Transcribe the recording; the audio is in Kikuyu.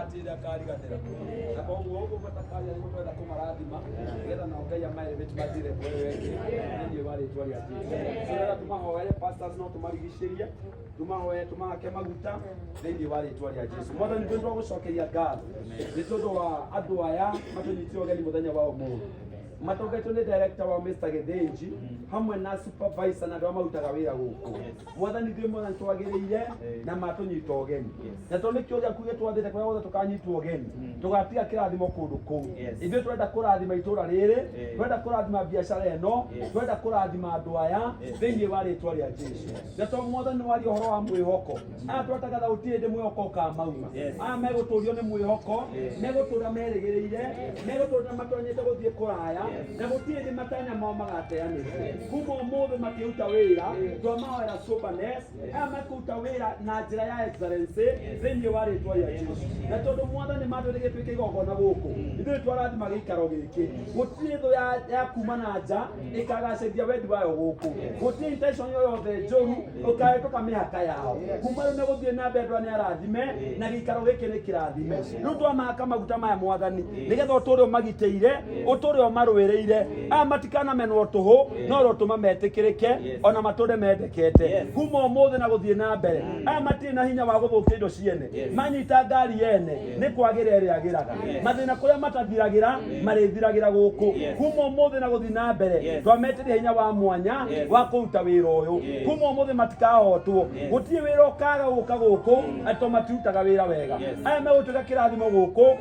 atinda kariganĩra na koguo ũgũbata karia nĩ gũtwenda kũmarathima nĩgetha nao ngai amaere mĩtu matire kwewengi thĩinĩ wa rĩtwa rĩa jesuĩra tũmahoere pastors no tũmarigicĩrie tũmahoere tũmahake maguta thĩinĩ wa rĩtwa rĩa jesu mwathani twĩ twagũcokeria ngatho nĩ tondũ wa andũ aya matũnyitire ũgeni mũthenya wa ũmũthĩ matongetwo nĩ director wa Mr. Githinji hamwe na supervisor na andũ arĩa marutaga wĩra gũkũ mwathani ngai mwathani twagĩrĩire na matũnyita ũgeni na tondũ nĩkĩo ũrĩa kuge twathĩte kũrĩa guothe tũkanyitwo ũgeni tũgatiga kĩrathimo kũndũ kũu ithuĩ twenda kũrathima itũũra rĩrĩ twenda kũrathima biacara ĩno twenda kũrathima andũ aya thĩinĩ wa rĩtwa rĩa jesu na to mwathani waria ũhoro wa mwĩhoko aya twatagaga gũtirĩ hĩndĩ mwĩhoko ũkamauma aya megũtũrio nĩ mwĩhoko megũtũra merĩgĩrĩire megũtũra matonyete gũthiĩ kũraya na gũtirĩ hĩndĩ matanya mao magateanĩrwo kuma ũmũthĩ makĩruta wĩra twamahoera soberness aya makĩruta wĩra na njĩra ya excellency thĩinĩ wa rĩtwa rĩa yesu na tondũ mwathani matwĩte gĩtuĩke igongona gũkũ ithuĩ twarathima gĩikaro gĩkĩ gũtirĩ thũ ya- ya kuma na nja ĩkagacĩrithia wendi wayo gũkũ gũtirĩ intention yo yothe njũru ũkahĩtũka mĩhaka yao kuma rĩu nĩ gũthiĩ na mbere nĩ arathime na gĩikaro gĩkĩ nĩ kĩrathime rĩu twamaka maguta maya mwathani nĩgetha ũtũre ũmagitĩire ũtũre ũmarũĩrĩire aya matikanamenwo tũhũ no rotũma metĩkĩrĩke ona matũre mendekete kuma ũmũthĩ na gũthiĩ na mbere aya matirĩ na hinya wa gũthũkia indo ciene manyita ngari yene nĩ kwagĩra ĩrĩa agĩraga mathĩna kũrĩa matathiragĩra marĩthiragĩra gũkũ kuma ũmũthĩ na gũthiĩ na mbere twametĩria hinya wa mwanya wa kũruta wĩra ũyũ kuma ũmũthĩ matikahotwo gũtirĩ wĩra ũkaga gũka gũkũ atĩ to matirutaga wĩra wega aya megũtuĩka kĩrathimo gũkũ